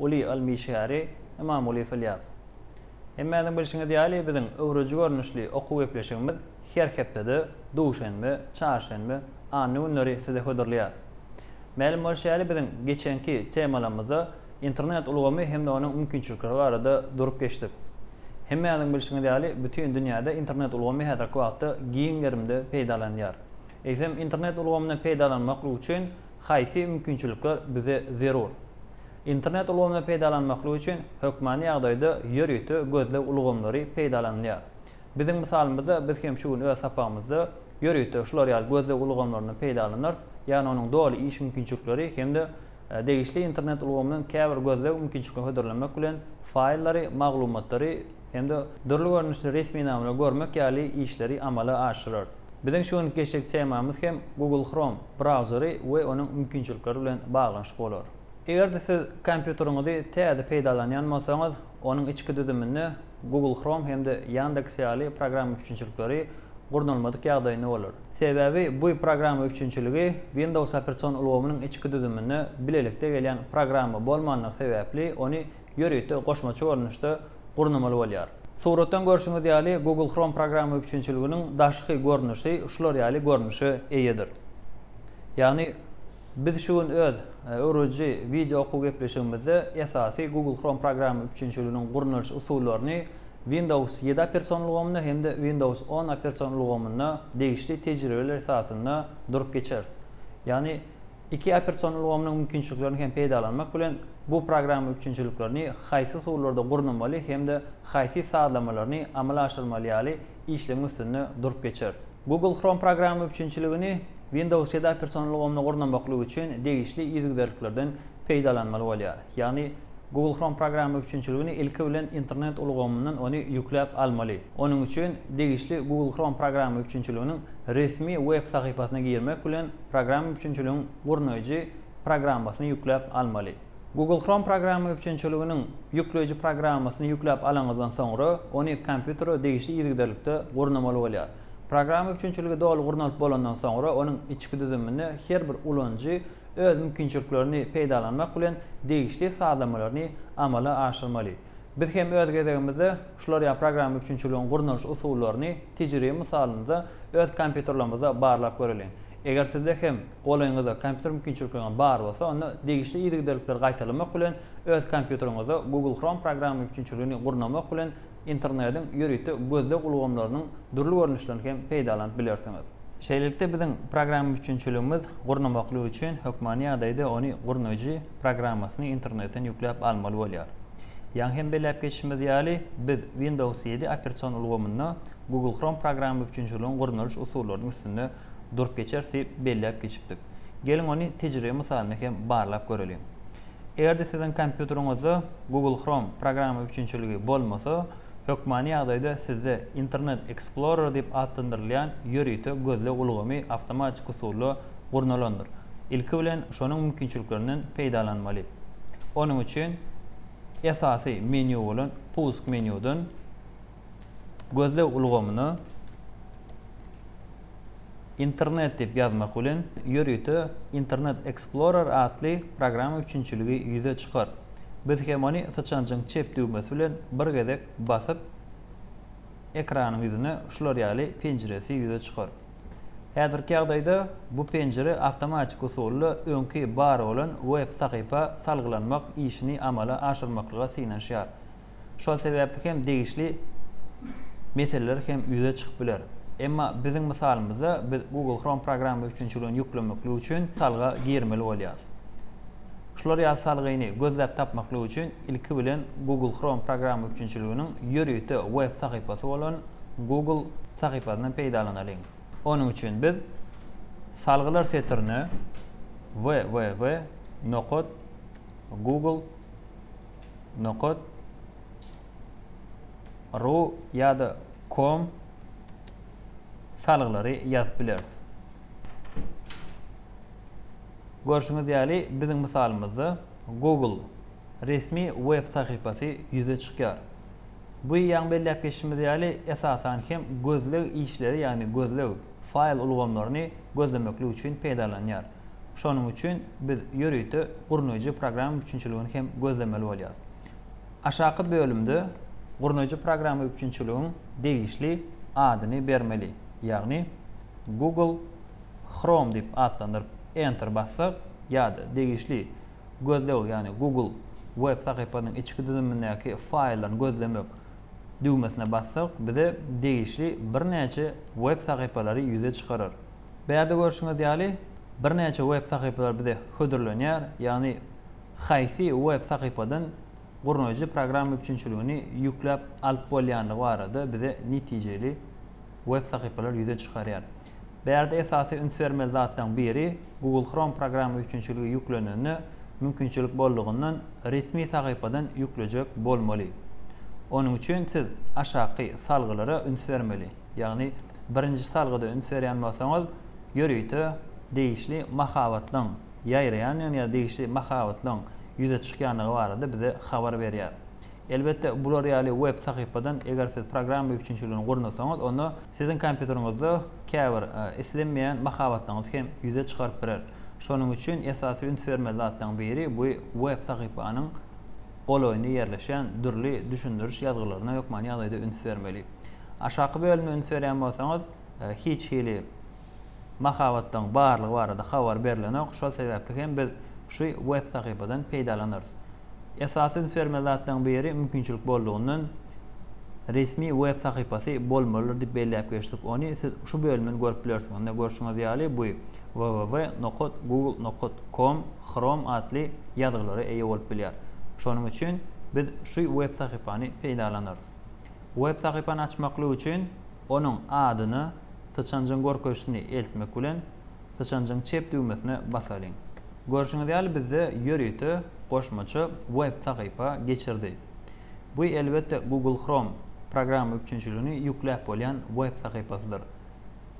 Uly ylm işgäri Ymamulyýew Ylýas. Hemmäňiziň bilşiňiz ýaly, biziň öwrüji görnüşli okuw gepleşigimiz her hepdede duşenbe, çarşenbe, anna günleri size hödürleýäris. Mälim bolşy ýaly, biziň geçenki temalarymyzda internet ulgamy hem-de onuň mümkinçilikleri barada durup geçdik. Hemmäňiziň bilşiňiz ýaly, bütin dünýäde internet ulgamy häzirki wagtda giň gerimde peýdalanylýar. Eýsem, internet ulgamyndan peýdalanmak üçin Haýsy mümkinçilikler bize zerur? Internet ulgamyny peýdalanmaklyk üçin hökmany ýagdaýda ýörite gözleg ulgamlary peýdalanylýar. Biziň mysalymyzda biz hem şu gün öz sapagymyzda ýörite şular ýaly gözleg ulgamlaryndan peýdalanarys, ýagny onuň doly iş mümkinçilikleri hem-de degişli internet ulgamynyň käbir gözleg mümkinçiliklerini hödürlemek bilen faýllary, maglumatlary hem-de dürli görnüşli resminamalary görmek ýaly işleri amala aşyrarys. Biziň şu günki geçjek temamyz hem Google Chrome. brauzeri we onuň mümkinçilikleri bilen baglanyşykly bolar. Eger-de siz kompýuteriňizi täze peýdalanýan bolsaňyz, onuň içki düzüminde Google Chrome hem-de Yandex ýaly programma üpjünçilikleri gurnalmadyk ýagdaýynda bolar. Sebäbi bu programma üpjünçiligi Windows operation ulgamynyň içki düzüminde bilelikde gelýän programma bolmandygy sebäpli ony ýörite goşmaça görnüşde gurnamaly bolýar. Suratdan görşüňiz ýaly, Google Chrome programma üpjünçiliginiň daşky görnüşi şular ýaly görnüşe eýedir. Ýagny, biz şu gün öz öwrediji wideo okuw gepleşigimizde esasy Google Chrome programma üpjünçiliginiň gurnalyş usullaryny Windows ýedi opersion ulgamynda hem-de Windows on opersion ulgamynda degişli tejribeler esasynda durup geçeris. Ýagny, Iki operasion ulgamynyň mümkinçiliklerini hem peýdalanmak bilen, bu programma üpjünçiliklerini, haýsy usullarda gurnamaly hem-de haýsy sazlamalaryny amala aşyrmaly ýaly işlegiň üstünde durup geçeris. Google Chrome programma üpjünçiligini Windows ýedi operasion ulgamyny gurnamaklyk üçin degişli yzygiderliklerden peýdalanmaly bolýar. Ýagny, Google Chrome programma üpjünçiligini ilki bilen internet ulgamyndan ony ýükläp almaly. Onuň üçin degişli Google Chrome programma üpjünçiliginiň resmi web sahypasyna girmek bilen programma üpjünçiligiň gurnaýjy programmasyny ýükläp almaly. Google Chrome programma üpjünçiliginiň ýükleýji programmasyny ýükläp alaňyzdan soňra, ony kompýutere degişli yzygiderlikde gurnamaly bolýar. Programma üpjünçiligi doly gurnalyp bolandan soňra, onuň içki düzüminde her bir ulanyjy öz mümkinçiliklerini peýdalanmak bilen degişli sazlamalaryny amala aşyrmaly. Biz hem öz gezegimizde şular ýaly programma üpjünçiligiň gurnalyş usullaryny tejribe mysalynda öz kompýuterlerimizde barlap göreliň. Eger sizde hem golaýyňyzda kompýuter mümkinçilikleri bar bolsa onda degişli yzygiderlikleri gaýtalamak bilen öz kompýuteriňizde Google Chrome programma üpjünçiligini gurnamak bilen Internediň ýörite gözleg ulgamlarynyň dürli görnüşlerini hem peýdalanyp bilersiňiz. Şeýlelikde, biziň programma üpjünçiligimiz gurnamaklyk üçin hökmany ýagdaýda ony gurnaýjy programmasyny internetden ýükläp almaly bolýar. Ýaňy hem belläp geçişimiz ýaly, biz Windows ýedi operasion ulgamynda Google Chrome programma üpjünçiliginiň gurnalyş usullarynyň üstünde durup geçeris diýip belläp geçipdik. Geliň ony tejribe mysalynda hem barlap göreliň. Eger-de siziň kompýuteriňizde Google Chrome programma üpjünçiligi bolmasa, hökmany ýagdaýda sizde Internet Explorer diýip atlandyrylýan ýörite gözleg ulgamy awtomatik usulda gurnalandyr. Ilki bilen şonuň mümkinçiliklerinden peýdalanmaly. Onuň üçin esasy menýu bolan Pusk menýudan. gözleg ulgamyna Internet diýip ýazmak bilen ýörite Internet Explorer atly programma üpjünçiligi ýüze çykar. Biz hem ony syçanjyň çep düwmesi bilen bir gezek basyp, ekranyň ýüzüne şular ýaly penjiresi ýüze çykar. Häzirki ýagdaýda bu penjire awtomatik usulda öňki bar bolan web sahypa salgylanmak işini amala aşyrmaklyga synanyşýar. Şol sebäpli hem degişli meseleler hem ýüze çykyp biler. Emma biziň mysalymyzda biz Google Chrome programma üpjünçiligini ýüklemeklik üçin salga girmeli bolýas. Şular ýaly salgyny gözläp tapmaklyk üçin ilki bilen Google Chrome programma üpjünçiliginiň ýörite web sahypasy bolan Google sahypasyndan peýdalanalyň. Onuň üçin biz Salgylar setirine www. Google. nokat ru ýa-da com salgylary ýazyp bileris. Görşüňiz ýaly biziň mysalymyzda Google resmi web sahypasy ýüze çykýar. Bu ýaň belläp geçişimiz ýaly esasan hem gözleg işleri ýagny gözleg faýl ulgamlaryny gözlemeklik üçin peýdalanýar. Şonuň üçin biz ýörite gurnaýjy programma üpjünçiligini hem gözlemeli bolýarys. Aşaky bölümde gurnaýjy programma üpjünçiligiň degişli adyny bermeli, ýagny Google Chrome diýip atlandyryp Enter bassak ýa-da degişli gözleg ýagny Google web sahypasynyň içki düzümindäki faýllaryny gözlemek düwmesine bassak bize degişli birnäçe web sahypalary ýüze çykarar. Bärde görşüňiz ýaly, birnäçe web sahypalar bize hödürlenýär, ýagny haýsy web sahypadan gurnaýjy programma üpjünçiligini ýükläp alyp bolýandygy barada bize netijeli web sahypalar ýüze çykarýar. Bärde esasy üns bermeli zatlaryň biri Google Chrome programma üpjünçiligi ýüklenende mümkinçilik boldugyndan resmi sahypadan ýüklejek bolmaly. Onuň üçin siz aşaky salgylara üns bermeli. Ýagny, birinji salgyda üns berýän bolsaňyz, ýörite degişli mahabatlygyň ýaýraýandygyny ýa-da degişli mahabatlygyň ýüze çykýandygy barada bize habar berýär. Elbetde, bular ýaly web sahypadan eger siz programma üpjünçiligini gurnasaňyz, onda siziň kompýuteriňizde käbir islenmeýän mahabatlygyňyzy hem ýüze çykaryp biler. Şonuň üçin esasy üns bermeli zatlaryň biri bu web sahypanyň golaýynda ýerleşen dürli düşündiriş ýazgylaryna hökmany ýagdaýda üns bermeli. Aşaky bölüme üns berýän bolsaňyz, hiç hili mahabatlaryň barlygy barada habar berlenok, şol sebäpli hem biz şu web sahypadan peýdalanarys. Esasy üns bermeli zatlaryň biri mümkinçilik boldugyndan resmi web sahypasy bolmalydyr diýip belläp geçdik. Ony siz şu bölümden görüp bilersiňiz. Ine görşüňiz ýaly bu www nokat google nokat com chrome atly ýazgylara eýe bolup bilýär. Şonuň üçin biz şu web sahypany peýdalanarys. Web sahypany açmaklyk üçin onuň adyny, syçanjygyň görkezişini eltmek bilen, syçanjygyň çep düwmesine basalyň. Görşüňiz ýaly bizde ýörite goşmaça web sahypa geçirdi. Bu elbetde Google Chrome programma üpjünçiligini ýükläp bolýan web sahypasydyr.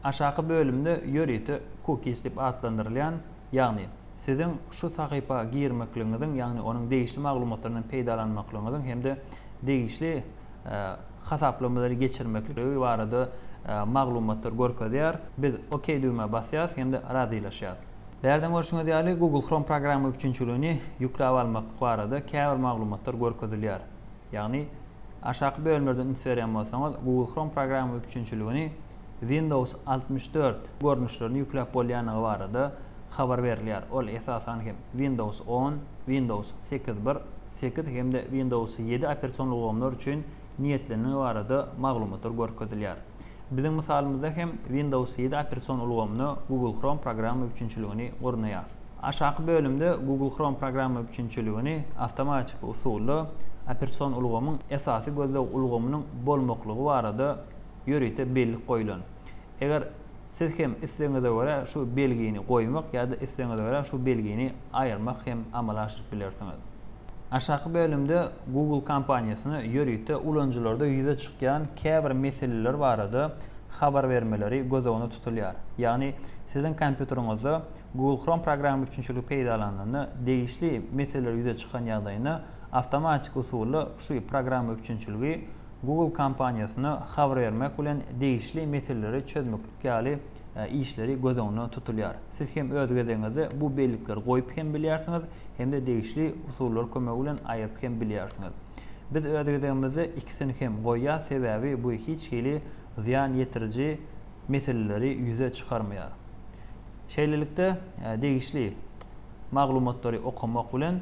Aşaky bölümde ýörite cookies diýip atlandyrylýan Ýagny, siziň şu sahypa girmekligiňiziň, ýagny onuň degişli maglumatlaryndan peýdalanmaklygyňyzyň hem-de degişli hasaplamalary geçirmekligi barada maglumatlar görkezýär. Biz OK düwmä basýarys hem-de razylaşýarys. Bärden görşüňiz ýaly, Google Chrome programma üpjünçiligini ýükläp almak barada käbir maglumatlar görkezilýär. Ýagny, aşaky bölümlerde üns berýän bolsaňyz, Google Chrome programma üpjünçiligini Windows altmyş dört görnüşlerini ýükläp bolýandygy barada habar berilýär. Ol, esasan hem, Windows on, Windows sekiz bir, sekiz hem-de Windows ýedi operasion ulgamlar üçin niýetlenendigi barada maglumatlar görkezilýär. Biziň mysalymyzda hem Windows ýedi operation ulgamyna Google Chrome programma üpjünçiligini gurnaýas. Aşaky bölümde Google Chrome programma üpjünçiligini awtomatiki usulda operation ulgamyň esasy gözleg ulgamynyň bolmaklygy barada ýörite bellik goýlan. Eger Siz hem islegiňize görä şu belgini goýmak ýa-da islegiňize görä şu belgini aýyrmak hem amala aşyryp bilersiňiz. Aşaky bölümde Google kompaniýasyna ýörite ulanyjylarda ýüze çykýan käbir meseleler barada habar bermeleri göz öňünde tutulýar. Ýagny siziň kompýuteriňizde Google Chrome programma üpjünçiligi peýdalanylanda degişli meseleler ýüze çykan ýagdaýynda awtomatik usulda şu programma üpjünçiligi Google kompaniýasyna habar bermek bilen degişli meseleleri çözmeklik ýaly işleri göz öňünde tutulýar. Siz hem öz gezegiňizde bu bellikleri goýup hem bilýärsiňiz, hem-de degişli usullar kömegi bilen aýyryp hem bilýärsiňiz. Biz öz gezegimizde ikisini hem goýýas, sebäbi bu hiç hili zyýan ýetiriji meseleleri ýüze çykarmaýar. Şeýlelikde, degişli maglumatlary okamak bilen,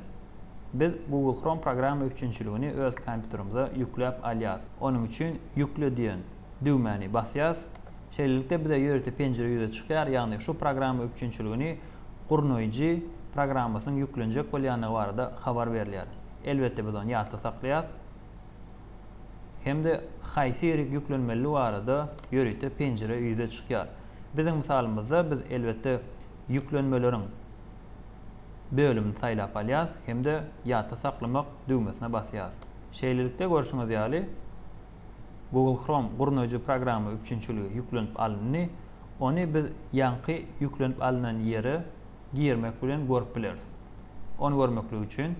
Biz Google Chrome programma üpjünçiligini öz kompýuterimize ýükläp alýas. Onuň üçin Ýükle diýen düwmäni basýas. Şeýlelikde bize ýörite penjire ýüze çykýar, ýagny şu programma üpjünçiligini gurnaýjy programmasynyň ýüklenjek bolýandygy barada habar berilýär. Elbetde biz ony ýatda saklaýas hem-de haýsy ýerik ýüklenmelidigi barada ýörite penjire ýüze çykýar. Biziň mysalymyzda biz elbetde ýüklenmeleriň. bölümini saýlap alýas hem-de ýatda saklamak düwmesine basýas. Şeýlelikde görşüňiz ýaly Google Chrome gurnaýjy programma üpjünçiligi ýüklenip alyndy, ony biz ýaňky ýüklenip alynan ýere girmek bilen görüp bileris. Ony görmeklik üçin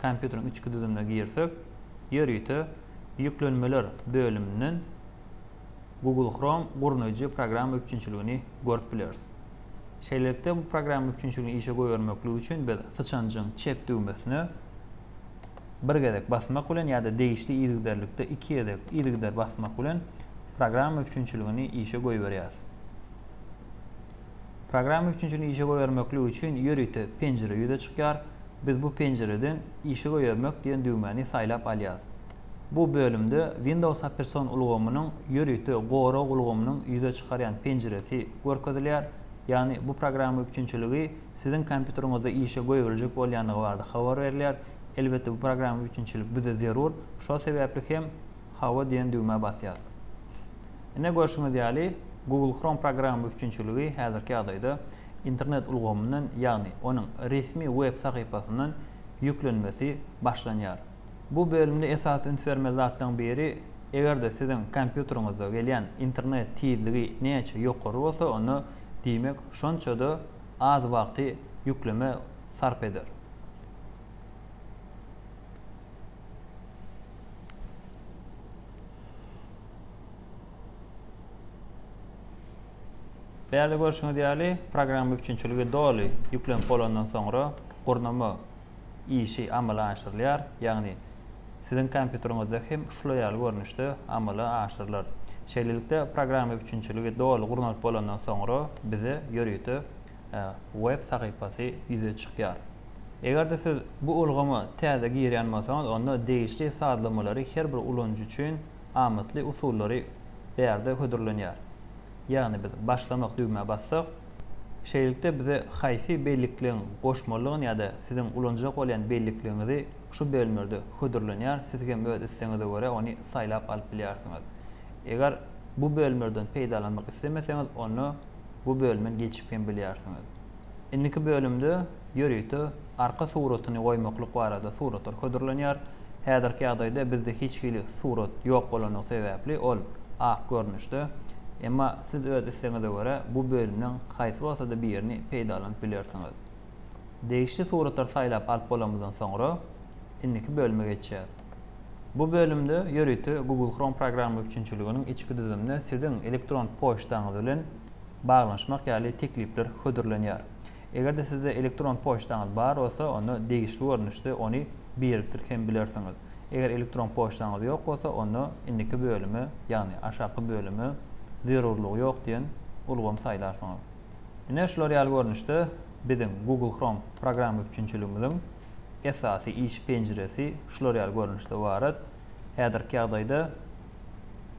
kompýuteriň içki düzümine girsek, ýörite ýüklenmeler bölüminden, Google Chrome gurnaýjy programma üpjünçiligini görüp bileris. Şeýlelikde bu programma üpjünçiligini işe goýbermeklik üçin biz syçanjyň çep düwmesine bir gezek basmak bilen ýa-da degişli yzygiderlikde iki gezek yzygider basmak bilen programma üpjünçiligini işe goýberýäris. Programma üpjünçiligini işe goýbermeklik üçin ýörite penjire ýüze çykýar. Biz bu penjireden işe goýbermek diýen düwmäni saýlap alýarys. Bu bölümde Windows opersion ulgamynyň ýörite gorag ulgamynyň ýüze çykarýan penjiresi görkezilýär, ýagny bu programma üpjünçiligi siziň kompýuteriňizde işe goýberiljek bolýandygy barada habar berilýär. Elbetde bu programma üpjünçilik bize zerur, şol sebäpli hem Hawa diýen düwmä basýas. Ine görşüňiz ýaly Google Chrome programma üpjünçiligi häzirki ýagdaýda internet ulgamyndan ýagny onuň resmi web sahypasyndan ýüklenmesi başlanýar. Bu bölümde esasy üns bermeli zatlaryň biri, eger-de siziň kompýuteriňizde gelýän internet tizligi näçe ýokary bolsa, onda diýmek şonça-da az wagty ýükleme sarp eder. Bärde görşüňiz ýaly, programma üpjünçiligi doly ýüklenip bolandan soňra gurnama işi amala aşyrylýar, ýagny siziň kompýuteriňizde hem şular ýaly görnüşde amala aşyrylar. Şeýlelikde, programma üpjünçiligi doly gurnalyp bolandan soňra bize ýörite web sahypasy ýüze çykýar. Eger-de siz bu ulgama täze girýän bolsaňyz, onda degişli sazlamalary her bir ulanyjy üçin amatly usullary bärde hödürlenýär. ýagny biz başlamak düwmä bassak, şeýlelikde bize haýsy bellikleň goşmalydygyny ýa-da siziň ulanjak bolýan bellikligiňizi şu bölümlerde hödürlenýär, siz hem öz islegiňize görä ony saýlap alyp bilýärsiňiz. Eger bu bölümlerden peýdalanmak islemeseňiz onda bu bölümden geçip hem bilýärsiňiz. Indiki bölümde ýörite arka suratyny goýmaklyk barada suratlar hödürlenýär. Häzirki ýagdaýda bizde hiç hili surat ýok bolandygy sebäpli ol ak görnüşde. Emma siz öz islegiňize görä bu bölümden haýsy bolsa-da birini peýdalanyp bilersiňiz. Degişli suratlary saýlap alyp bolanymyzdan soňra indiki bölüme geçýäs. Bu bölümde ýörite Google Chrome programma üpjünçiliginiň içki düzümine siziň elektron poçtaňyz bilen baglanyşmak ýaly teklipler hödürlenýär. Eger-de sizde elektron poçtaňyz bar bolsa, onda degişli görnüşde ony birikdirip hem bilersiňiz. Eger elektron poçtaňyz ýok bolsa, onda indiki bölüme, ýagny aşaky bölüme zerurlygy ýok diýen ulgamy saýlarsyňyz. Ine, şular ýaly görnüşde biziň Google Chrome programma üpjünçiligimiziň esasy iş penjiresi şular ýaly görnüşde barat. Häzirki ýagdaýda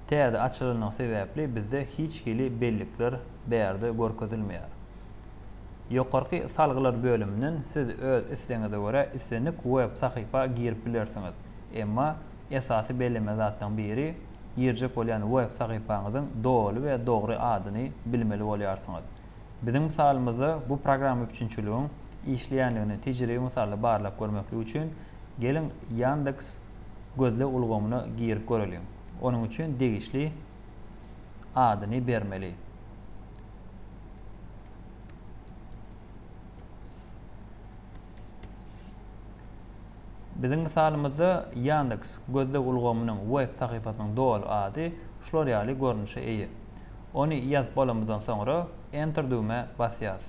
täze açylandygy sebäpli bizde hiç hili bellikler bärde görkezilmeýär. Ýokarky salgylar bölüminden siz öz islegiňize görä islendik web sahypa girip bilersiňiz. Emma esasy belleme zatlaryň biri girjek bolýan web sahypaňyzyň doly we dogry adyny bilmeli bolýarsyňyz. Biziň mysalymyzda bu programma üpjünçiligiň işleýändigini tejribe mysalda barlap görmeklik üçin, geliň Ýandeks gözleg ulgamyna girip göreliň. Onuň üçin degişli adyny bermeli. Biziň mysalymyzda Yandex gözleg ulgamynyň web sahypasynyň doly ady şular ýaly görnüşe eýe. Ony ýazyp bolamyzdan soňra Enter düwmä basýas.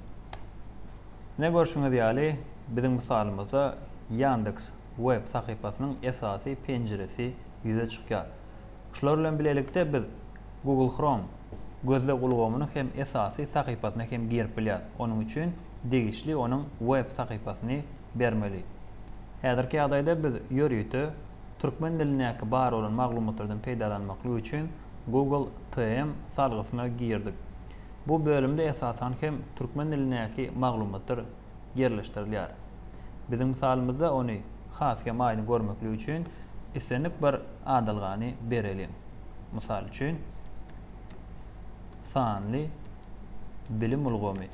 Ine görşüňiz ýaly biziň mysalymyzda Yandex web sahypasynyň esasy penjiresi ýüze çykýar. Şular bilen bilelikde biz Google Chrome gözleg ulgamynyň hem esasy sahypasyna hem girip bilýäs. Onuň üçin degişli onuň web sahypasyny bermeli. Häzirki ýagdaýda biz ýörite türkmen dilindäki bar bolan maglumatlardan peýdalanmaklyk üçin Google TM salgysyna girdik. Bu bölümde esasan hem türkmen dilindäki maglumatlar ýerleşdirilýär. Biziň mysalymyzda ony has hem aýdyň görmeklik üçin islendik bir adalgany bereliň. Mysal üçin, sanly bilim ulgamy.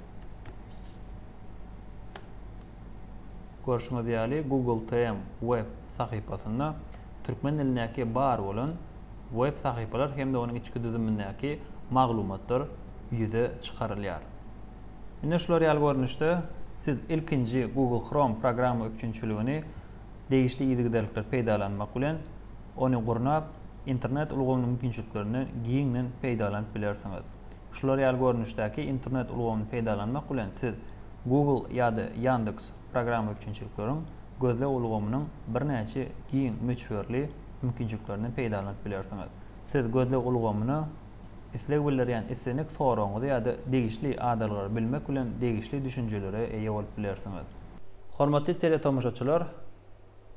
Görşüňiz ýaly, Google TM web sahypasynda türkmen dilindäki bar bolan web sahypalar hem-de onuň içki düzümindäki maglumatlar ýüze çykarylýar. Ine şular ýaly görnüşde siz ilkinji Google Chrome programma üpjünçiligini degişli yzygiderlikli peýdalanmak bilen ony gurnap internet ulgamynyň mümkinçiliklerinden giňden peýdalanyp bilersiňiz. Şular ýaly görnüşdäki internet ulgamyny peýdalanmak bilen siz Google ýa-da Yandex programma üpjünçilikleriň gözleg ulgamynyň birnäçe giň möçberli mümkinçiliklerinden peýdalanyp bilersiňiz. Siz gözleg ulgamyna isleg bildirýän islendik soragyňyzy ýa-da degişli adalgalary bilmek bilen degişli düşünjelere eýe bolup bilersiňiz. Hormatly teletomaşaçylar!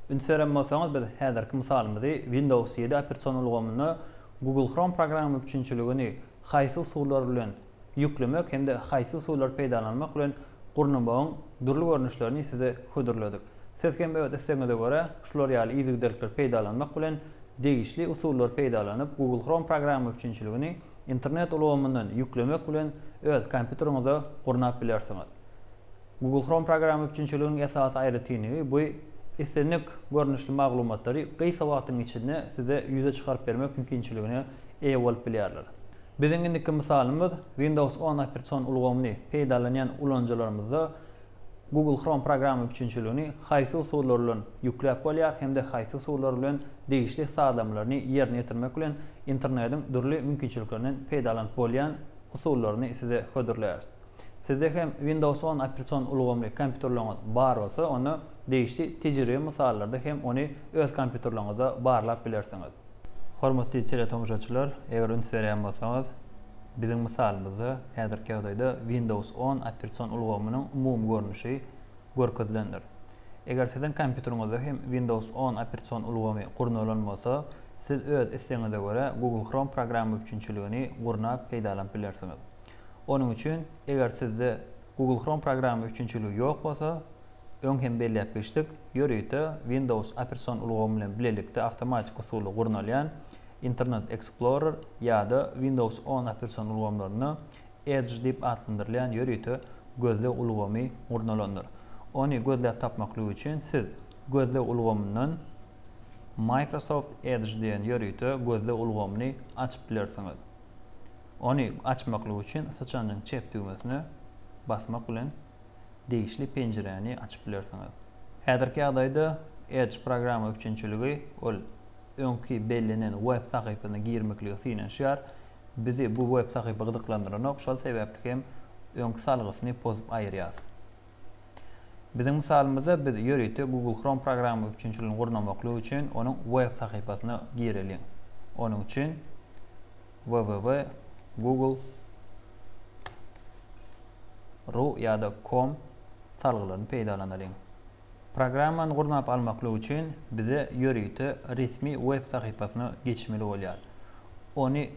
Üns beren bolsaňyz biz häzirki mysalymyzy Windows ýedi operasion ulgamynda Google Chrome programma müpçünçiligini haýsy usullar bilen ýüklemek hem-de haýsy usullary peýdalanmak bilen gurnamagyň dürli görnüşlerini size hödürledik. Siz hem öz islegiňize görä şular ýaly yzygiderlikleri peýdalanmak bilen degişli usullary peýdalanyp Google Chrome programma üpjünçiligini internet ulgamyndan ýüklemek bilen öz kompýuteriňize gurnap bilersiňiz. Google Chrome programma üpjünçiliginiň esasy aýratynlygy bu islendik görnüşli maglumatlary gysga wagtyň içinde size ýüze çykaryp bermek mümkinçiligine eýe bolup bilýärler. Biziň indiki mysalymyz Windows on operasion ulgamyny peýdalanýan ulanyjylarymyzda Google Chrome programma üpjünçiligini haýsy usullar bilen ýükläp bolýar hem-de haýsy usullar bilen degişli sazlamalaryny ýerine ýetirmek bilen internediň dürli mümkinçiliklerinden peýdalanyp bolýan usullaryny size hödürleýäris. Sizde hem Windows on operatsion ulgamly kompýuterleriňiz bar bolsa onda degişli tejribe mysallarda hem ony öz kompýuterleriňizde barlap bilersiňiz. Hormatly teletomaşaçylar, eger üns berýän bolsaňyz, biziň mysalymyzda häzirki ýagdaýda Windows on operatsion ulgamynyň umumy görnüşi görkezilendir. Eger siziň kompýuteriňizde hem Windows on operatsion ulgamy gurnalan bolsa, siz öz islegiňize görä Google Chrome programma üpjünçiligini gurnap peýdalanyp bilersiňiz. Onuň üçin, eger sizde Google Chrome programma üpjünçiligi ýok bolsa, Öň hem belläp geçdik, ýörite Windows operatsion ulgamy bilen bilelikde awtomatik usuly gurnalýan Internet Explorer ýa-da Windows on operatsion ulgamlarynda Edge diýip atlandyrylýan ýörite gözleg ulgamy gurnalandyr. Ony gözläp tapmaklyk üçin siz Gözleg ulgamyndan Microsoft Edge diýen ýörite gözleg ulgamyny açyp bilersiňiz. Ony açmaklyk üçin syçanyň çep düwmesine basmak bilen degişli penjiräni açyp bilersiňiz. Häzirki ýagdaýda Edge programma üpjünçiligi ol öňki bellenen web sahypasyna girmeklige synanyşýar. Bizi bu web sahypa gyzyklandyranok, şol sebäpli hem öňki salgysyny pozup aýyrýas. Biziň mysalymyzda biz ýörite Google Chrome programma üpjünçiligini gurnamaklyk üçin onuň web sahypasyna gireliň. Onuň üçin www google ru ýa-da com salgylaryny peýdalanalyň. Programmany gurnap almaklyk üçin bize ýörite resmi web sahypasyna geçmeli bolýar. Ony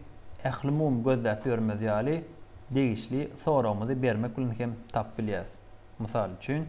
ählumumy gözläp ýörmez ýaly degişli soragymyzy bermek bilen hem tapyp bilýäris. Mysal üçin.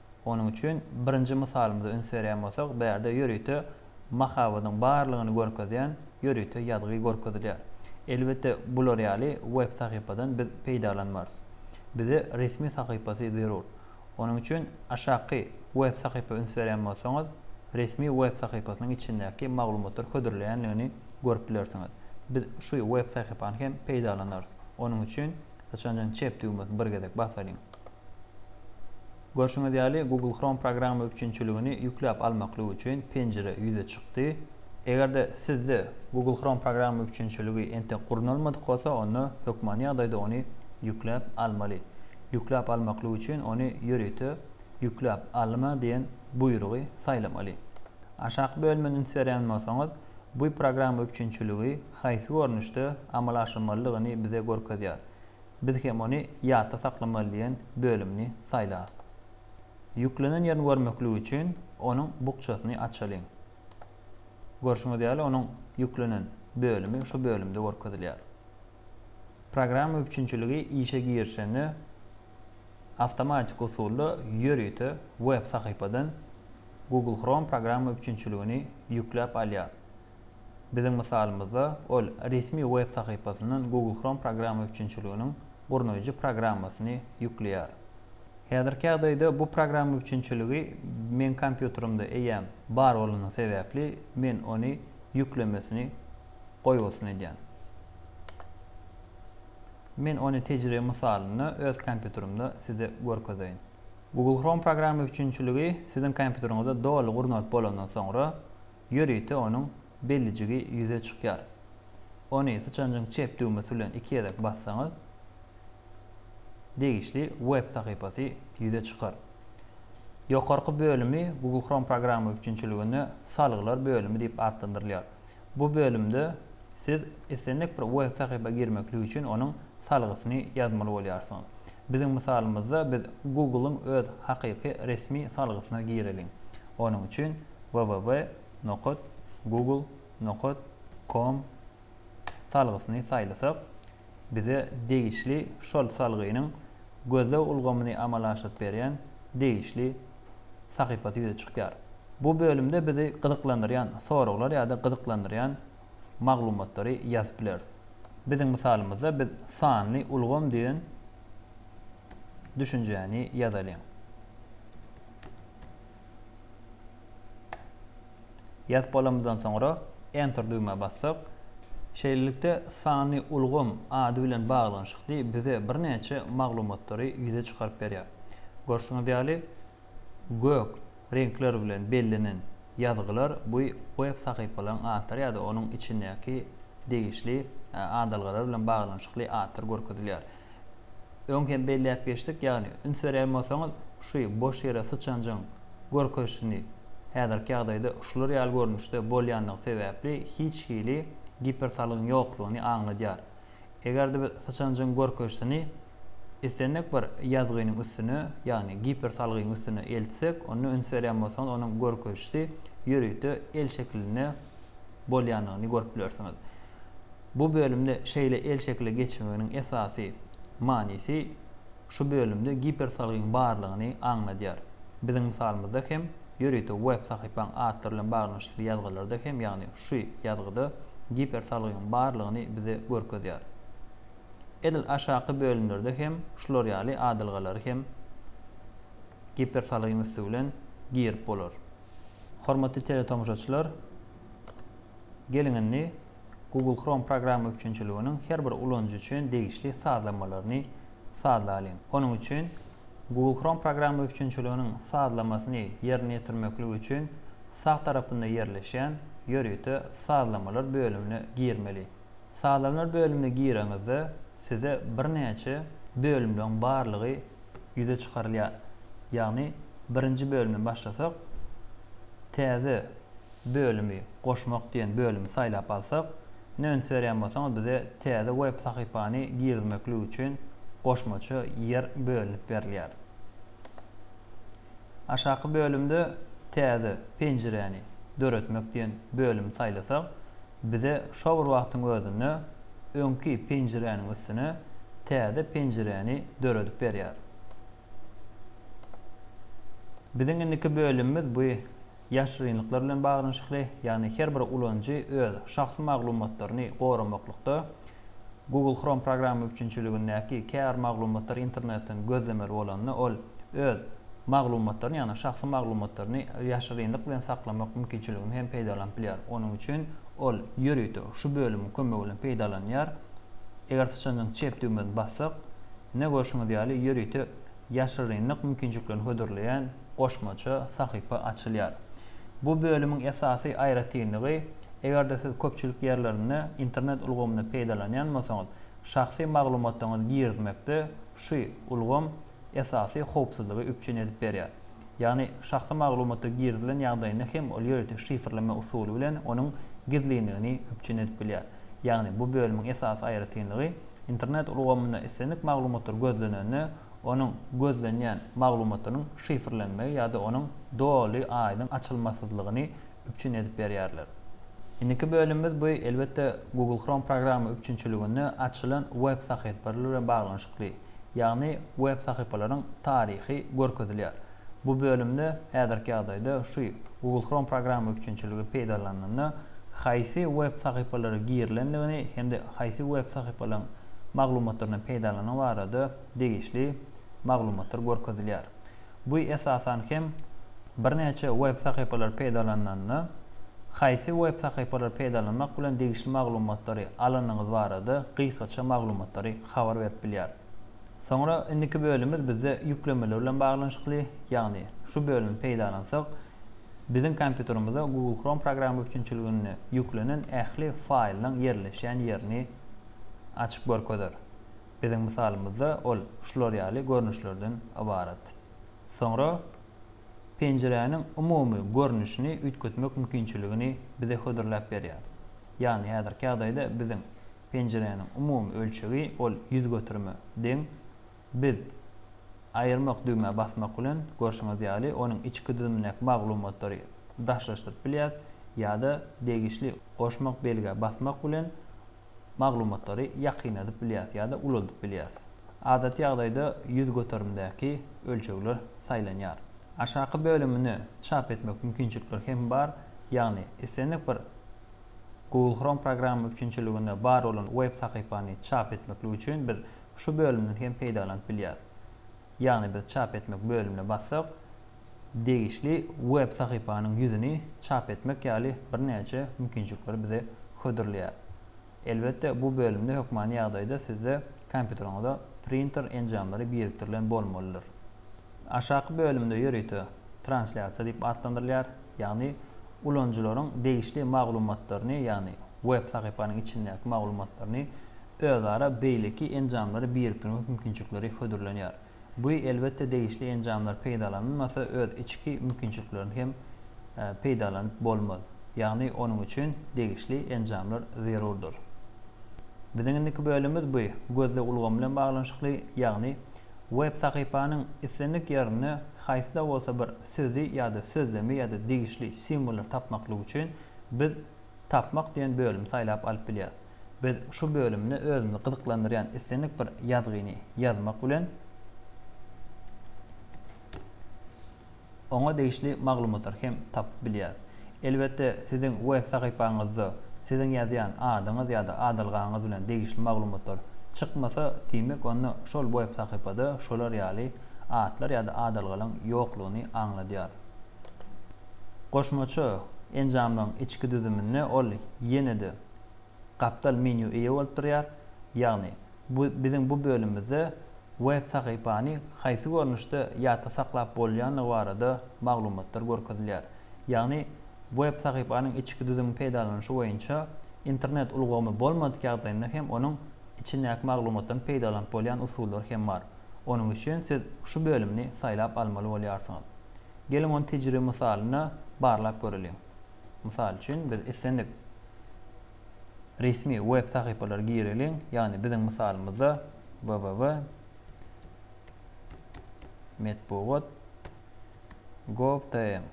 Onuň üçin birinji mysalymyza üns berýän bolsak, bu ýerde ýörite mahabadyň barlygyny görkezýän ýörite ýazgy görkezilýär. Elbetde, bular ýaly web sahypadan biz peýdalanmarys. Bize resmi sahypasy zerur. Onuň üçin aşaky web sahypa üns berýän bolsaňyz, resmi web sahypasynyň içindäki maglumatlar hödürleýändigini görüp bilersiňiz. Biz şu web sahypany hem peýdalanarys. Onuň üçin syçanjygyň çep düwmesini bir gezek basalyň. Görşüňiz ýaly, Google Chrome programma üpjünçiligini ýükläp almaklyk üçin penjire ýüze çykdy. Eger-de sizde Google Chrome programma üpjünçiligi entek gurnalmadyk bolsa, onda hökmany ýagdaýda ony ýükläp almaly. Ýükläp almaklyk üçin ony ýörite Ýükläp alma diýen buýrugy saýlamaly. Aşaky bölüme üns berýän bolsaňyz, bu programma üpjünçiligi haýsy görnüşde amala aşyrmalydygyny bize görkezýär. Biz hem ony ýatda saklamaly diýen bölümini saýlarys. Ýüklenen ýerini görmeklik üçin onuň bukjasyny açalyň. Görşüňiz ýaly, onuň ýüklenen bölümi şu bölümde görkezilýär. Programma üpjünçiligi işe girişende awtomatik usulda ýörite web sahypadan Google Chrome programma üpjünçiligini ýükläp alýar. Biziň mysalymyzda, ol resmi web sahypasyndan Google Chrome programma üpjünçiliginiň gurnaýjy programmasyny ýükleýär. Häzirki ýagdaýda bu programma üpjünçiligi meň kompýuterimde eýýäm bar bolany sebäpli, men ony ýüklemesini goýbolsun edýän. Men ony tejribe mysalynda öz kompýuterimde size görkezeýin. Google Chrome programma üpjünçiligi siziň kompýuteriňizde doly gurnalyp bolandan soňra, ýörite onuň bellijigi ýüze çykýar. Ony syçanjyň çep düwmesi bilen iki gezek bassaňyz, degişli web sahypasy ýüze çykar. Ýokarky bölümi Google Chrome programma üpjünçiliginde Salgylar bölümi diýip atlandyrylýar. Bu bölümde siz islendik bir web sahypa girmeklik üçin onuň salgysyny ýazmaly bolýarsyňyz. Biziň mysalymyzda biz Google-yň öz hakyky resmi salgysyna gireliň. Onuň üçin www nokat google nokat com salgysyny saýlasak, bize degişli şol salgynyň gözleg ulgamyny amala aşyryp berýän degişli sahypasy ýüze çykýar. Bu bölümde bizi gyzyklandyrýan soraglar ýa-da gyzyklandyrýan maglumatlary ýazyp bileris. Biziň mysalymyzda biz sanly ulgam diýen düşünjäni ýazalyň. Ýazyp bolamyzdan soňra Enter düwmä bassak, şeýlelikde sanly ulgam ady bilen baglanyşykly bize birnäçe maglumatlary ýüze çykaryp berýär. Görşüňiz ýaly, gök reňkler bilen bellenen ýazgylar bu web sahypalaryň atlary ýa-da onuň içindäki degişli adalgalar bilen baglanyşykly atlar görkezilýär. Öň hem belläp geçdik, ýagny üns berýän bolsaňyz, şu boş ýere syçanjygyň görkezişini häzirki ýagdaýda şular ýaly görnüşde bolýandygy sebäpli hiç hili gipersalgyň ýoklugyny aňladýar. Eger-de biz syçanjygyň görkezişini islendik bir ýazgynyň üstüne, ýagny gipersalgyň üstüne eltsek, onda üns berýän bolsaňyz, onuň görkezişi ýörite el şekilinde bolýandygyny görüp bilersiňiz. Bu bölümde şeýle el şekile geçmeginiň esasy manysy Şu bölümde gipersalgyň barlygyny aňladýar. Biziň mysalymyzda hem, ýörite web sahypaň atlar bilen baglanyşykly ýazgylarda hem, ýagny şu ýazgyda gipersalgyň barlygyny bize görkezýär. Edil aşaky bölümlerde hem şular ýaly adalgalary hem gipersalgyň üsti bilen girip bolar. Hormatly teletomaşaçylar, geliň indi Google Chrome programma üpjünçiliginiň her bir ulanyjy üçin degişli sazlamalaryny sazlalyň. Onuň üçin Google Chrome programma üpjünçiliginiň sazlamasyny ýerine ýetirmeklik üçin sag tarapynda ýerleşýän Ýörite sazlamalar bölümine girmeli. Sazlamalar bölümine gireňizde size birnäçe bölümleň barlygy ýüze çykarylýar. Ýagny birinji bölümi başlasak, täze bölümi goşmak diýen bölümi saýlap alsak, ine üns berýän bolsaňyz bize täze web sahypany girizmeklik üçin goşmaça ýer bölünip berilýär. Aşaky bölümde Täze penjiräni döretmek diýen bölümi saýlasak, bize şo bir wagtyň özünde öňki penjiräniň üstüne täze penjiräni döredip berýär. Biziň indiki bölümimiz bu ýaşyrynlyklar bilen baglanyşykly, ýagny her bir ulanyjy öz şahsy maglumatlaryny goramaklykda Google Chrome programma üpjünçiligindäki käbir maglumatlary internetden gözlemeli bolanda ol öz maglumatlaryny, ýagny şahsy maglumatlaryny ýaşyrynlyk bilen saklamak mümkinçiliginden hem peýdalanyp bilýär. Onuň üçin ol ýörite şu bölümiň kömegi bilen peýdalanýar. Eger syçanjyň çep düwmesini bassak, ine görşüňiz ýaly ýörite ýaşyrynlyk mümkinçiliklerini hödürleýän goşmaça sahypa açylýar. Bu bölümiň esasy aýratynlygy, eger-de siz köpçülik ýerlerinde internet ulgamyndan peýdalanýan bolsaňyz, şahsy maglumatlaryňyzy girizmekde şu ulgam esasy howpsuzlygy üpjün edip berýär. Ýagny şahsy maglumatlar girizilen ýagdaýynda hem ol ýörite şifrleme usuly bilen onuň gizlinligini üpjün edip bilýär. Ýagny bu bölümiň esasy aýratynlygy, Internet ulgamynda islendik maglumatlar gözlenende, onuň gözlenýän maglumatynyň şifrlenmegi ýa-da onuň doly aýdyň açylmasyzlygyny üpjün edip berýärler. Indiki bölümimiz bu elbetde Google Chrome programma üpjünçiliginde açylan web sahypalary bilen baglanyşykly, ýagny web sahypalaryň taryhy görkezilýär. Bu bölümde häzirki ýagdaýda şu Google Chrome programma üpjünçiligi peýdalanylanda haýsy web sahypalara girilendigini hem-de haýsy web sahypalaryň maglumatlaryndan peýdalanyny barada degişli maglumatlar görkezilýär. Bu esasan hem birnäçe web sahypalary peýdalanylanda haýsy web sahypalary peýdalanmak bilen degişli maglumatlary alanyňyz barada gysgaça maglumatlary habar berip bilýär. Soňra indiki bölümimiz bizde ýüklemeler bilen baglanyşykly, ýagny şu bölümi peýdalansak, biziň kompýuterimize Google Chrome programma üpjünçiliginde ýüklenen ähli faýlyň ýerleşýän ýerini açyp görkezer. Biziň mysalymyzda ol şular ýaly görnüşlerden ybarat. Soňra penjiräniň umumy görnüşini üýtgetmek mümkinçiligini bize hödürläp berýär. Ýagny häzirki ýagdaýda biziň Penjiräniň umumy ölçegi ol ýüz göterime deň. Biz Aýyrmak düwmä basmak bilen, görşüňiz ýaly, onuň içki düzümindäki maglumatlary daşlaşdyryp bilýäs ýa-da degişli goşmak belgä basmak bilen maglumatlary ýakynladyp bilýäs ýa-da ulaldyp bilýäs. Adaty ýagdaýda ýüz göterimdäki ölçegler saýlanýar. Aşaky bölümini çap etmek mümkinçilikleri hem bar, ýagny islendik bir Google Chrome programma üpjünçiliginde bar bolan web sahypany çap etmeklik üçin biz şu bölümden hem peýdalanyp bilýäris. Ýagny biz çap etmek bölümine bassak, degişli web sahypanyň ýüzüni çap etmek ýaly birnäçe mümkinçilikleri bize hödürleýär. Elbetde bu bölümde hökmany ýagdaýda sizde kompýuteriňize printer enjamlary birikdirilen bolmalydyr. Aşaky bölümde ýörite translýasiýa diýip atlandyrylýar, ýagny ulanyjylaryň degişli maglumatlaryny, ýagny web sahypanyň içindäki maglumatlaryny özara beýleki enjamlara birikdirmek mümkinçilikleri hödürlenýär. Bu elbetde degişli enjamlar peýdalanylmasa öz içki mümkinçiliklerini hem peýdalanyp bolmaz. Ýagny onuň üçin degişli enjamlar zerurdyr. Biziň indiki bölümimiz bu gözleg ulgamy bilen baglanyşykly, ýagny web sahypanyň islendik ýerinde haýsy-da bolsa bir sözi ýa-da sözlemi ýa-da degişli simwollary tapmaklyk üçin biz Tapmak diýen bölümi saýlap alyp bilýäris. Biz şu bölümde özümizi gyzyklandyrýan islendik bir ýazgyny ýazmak bilen, oňa degişli maglumatlary hem tapyp bilýäris. Elbetde, siziň web sahypaňyzda siziň ýazýan adyňyz ýa-da adalgaňyz bilen degişli maglumatlar çykmasa, diýmek onda şol web sahypada şolar ýaly atlar ýa-da adalgalaryň ýoklugyny aňladýar. Goşmaça enjamlaryň içki düzüminde ol ýene-de gapdal menýu eýe bolup durýar, ýagny bu biziň bu bölümimizde web sahypany haýsy görnüşde ýatda saklap bolýandygy barada maglumatlar görkezilýär. Ýagny web sahypanyň içki düzümiň peýdalanyşy boýunça internet ulgamy bolmadyk ýagdaýynda hem onuň içindäki maglumatdan peýdalanyp bolýan usullar hem bar. Onuň üçin siz şu bölümini saýlap almaly bolýarsyňyz. Geliň ony tejribe mysalynda barlap göreliň. Mysal üçin, biz islendik resmi web sahypalary gireliň, ýagny biziň mysalymyzda www metbugat gov tm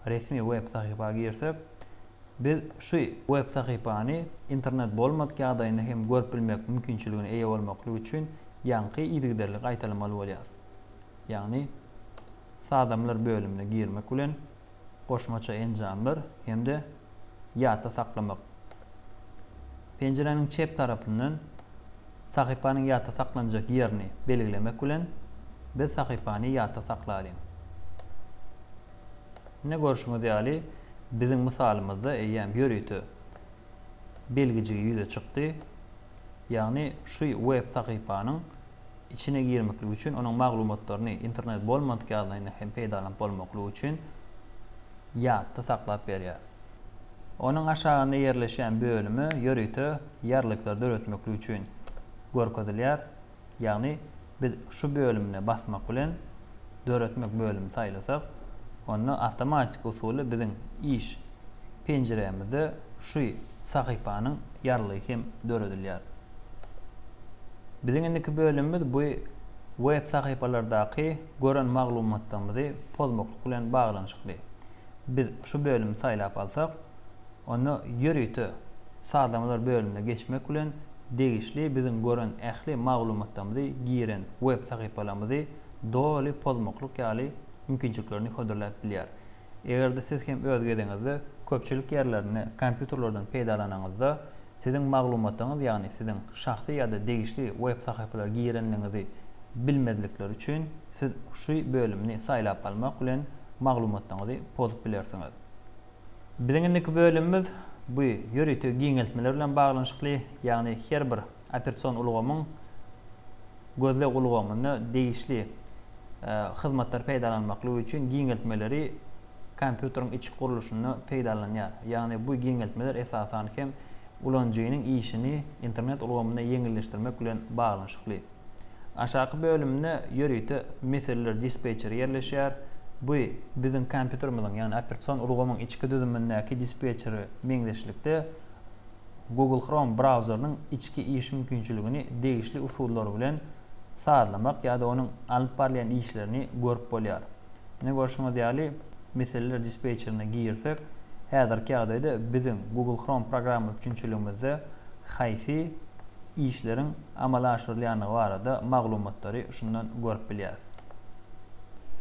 resmi web sahypa girsek, biz şu web sahypany internet bolmadyk ýagdaýynda hem görüp bilmek mümkinçiligine eýe bolmaklyk üçin ýaňky yzygiderli gaýtalamaly bolýar. Ýagny sazamlar bölümine girmek bilen goşmaça enjamlar hem-de ýatda saklamak. Penjiräniň çep tarapyndan sahypanyň ýatda saklanjak ýerini belgilemek bilen biz sahypany ýatda saklalyň. Ine görşüňiz ýaly biziň mysalymyzda eýýäm ýörite belgijigi ýüze çykdy. Ýagny şu web sahypanyň içine girmeklik üçin onuň maglumatlaryny internet bolmadyk ýagdaýynda hem peýdalanyp bolmaklygy üçin ýatda saklap berýär. Onuň aşagynda ýerleşýän bölüme ýörite ýarlyklar döretmeklik üçin görkezilýär. Ýagny biz şu bölümine basmak bilen döretmek bölümini saýlasak, onda awtomatiki usuly biziň iş penjiremizde şu sahypanyň ýarlygy hem döredilýär. Biziň indiki bölümimiz bu web sahypalardaky gören maglumatlarymyzy pozmaklyk bilen baglanyşykly. Biz şu bölümi saýlap alsak, onda ýörite sazlamalar bölümine geçmek bilen degişli biziň gören ähli maglumatlarymyzy, giren web sahypalarymyzy doly pozmaklyk ýaly mümkinçiliklerini hödürläp bilýär. Eger-de siz hem öz gezegiňizde köpçülik ýerlerinde kompýuterlerden peýdalanyňyzda siziň maglumatlaryňyz ýagny siziň şahsy ýa-da degişli web sahypalara girenligiňizi bilmezlikleri üçin siz şu bölümini saýlap almak bilen maglumatlaryňyzy pozup bilersiňiz. Biziň indiki bölümimiz bu ýörite giňeltmeler bilen baglanyşykly, ýagny her bir operation ulgamyň gözleg ulgamynda degişli hyzmatlary peýdalanmaklygy üçin giňeltmeleri kompýuteriň içki gurluşynda peýdalanylýar. Ýagny bu giňeltmeler esasan hem ulanyjynyň işini internet ulgamynda ýeňilleşdirmek bilen baglanyşykly. Aşaky bölüminde ýörite meseleler dispetçeri ýerleşýär. Bu biziň kompýuterimiziň, ýagny operatsion ulgamyň içki düzümindäki dispetçere meňzeşlikde Google Chrome brauzerynyň içki iş mümkinçiligini degişli usullar bilen sazlamak ýa-da onuň alyp barylýan işlerini görüp bolýar. Ine görşüňiz ýaly, meseleler dispetçerine girsek, häzirki ýagdaýda biziň Google Chrome programma üpjünçiligimizde haýsy işleriň amala aşyrylýandygy barada maglumatlary şundan görüp bilýäris.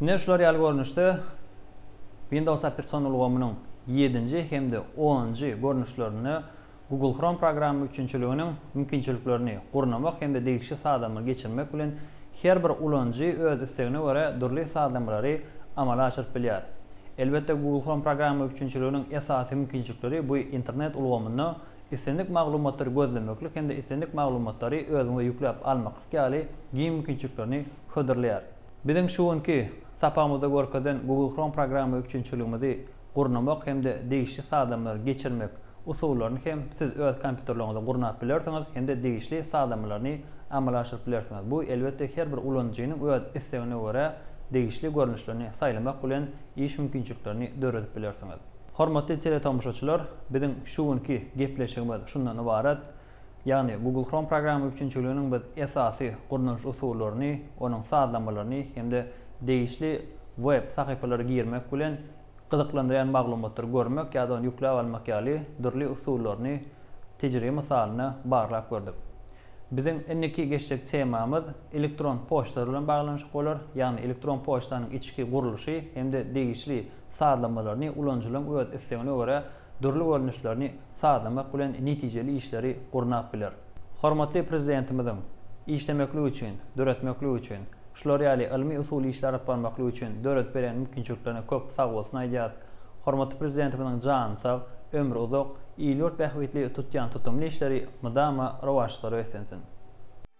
Ine şular ýaly görnüşde Windows operation ulgamynyň ýedinji hem-de onunjy görnüşlerinde Google Chrome programma üpjünçiliginiň mümkinçiliklerini gurnamak hem-de degişli sazlama geçirmek bilen her bir ulanyjy öz islegine görä dürli sazlamalary amala aşyryp bilýär. Elbetde Google Chrome programma üpjünçiliginiň esasy mümkinçilikleri bu internet ulgamynda islendik maglumatlary gözlemeklik hem-de islendik maglumatlary özüňize ýükläp almaklyk ýaly giň mümkinçiliklerini hödürleýär. Biziň şu günki sapagymyzda görkezen Google Chrome programma üpjünçiligimizi gurnamak hem-de degişli sazlamlary geçirmek usullaryny hem siz öz kompýuterleriňizde gurnap bilersiňiz hem-de degişli sazlamalaryny amala aşyryp bilersiňiz. Bu, elbetde, her bir ulanyjynyň öz islegine görä degişli görnüşlerini saýlamak bilen iş mümkinçiliklerini döredip bilersiňiz. Hormatly teletomşaçylar, biziň şu günki gepleşigimiz şundan ybarat. Ýagny Google Chrome programma üpjünçiliginiň biz esasy gurnalyş usullaryny, onuň sazlamalaryny hem-de degişli web sahypalara girmek bilen gyzyklandyrýan maglumatlary görmek ýa-da ony ýükläp almak ýaly dürli usullaryny tejribe mysalyna barlap gördük. Biziň indiki geçjek temamyz elektron poçtalar bilen baglanyşyk bolar, ýagny elektron poçtanyň içki gurluşy hem-de degişli sazlamalaryny ulanyjylaryň öz islegine görä dürli görnüşlerini sazlamak bilen netijeli işleri gurnap biler. Hormatly Prezidentimiziň, Işlemeklik üçin, döretmeklik üçin, şular ýaly ylmy-usuly işleri alyp barmaklyk üçin döredip beren mümkinçiliklerine köp sagbolsun aýdýarys. Hormatly Prezidentimiziň jany sag, ömri uzak, il-ýurt bähbitli tutýan tutumly işleri mydama rowaçlykda beslensin!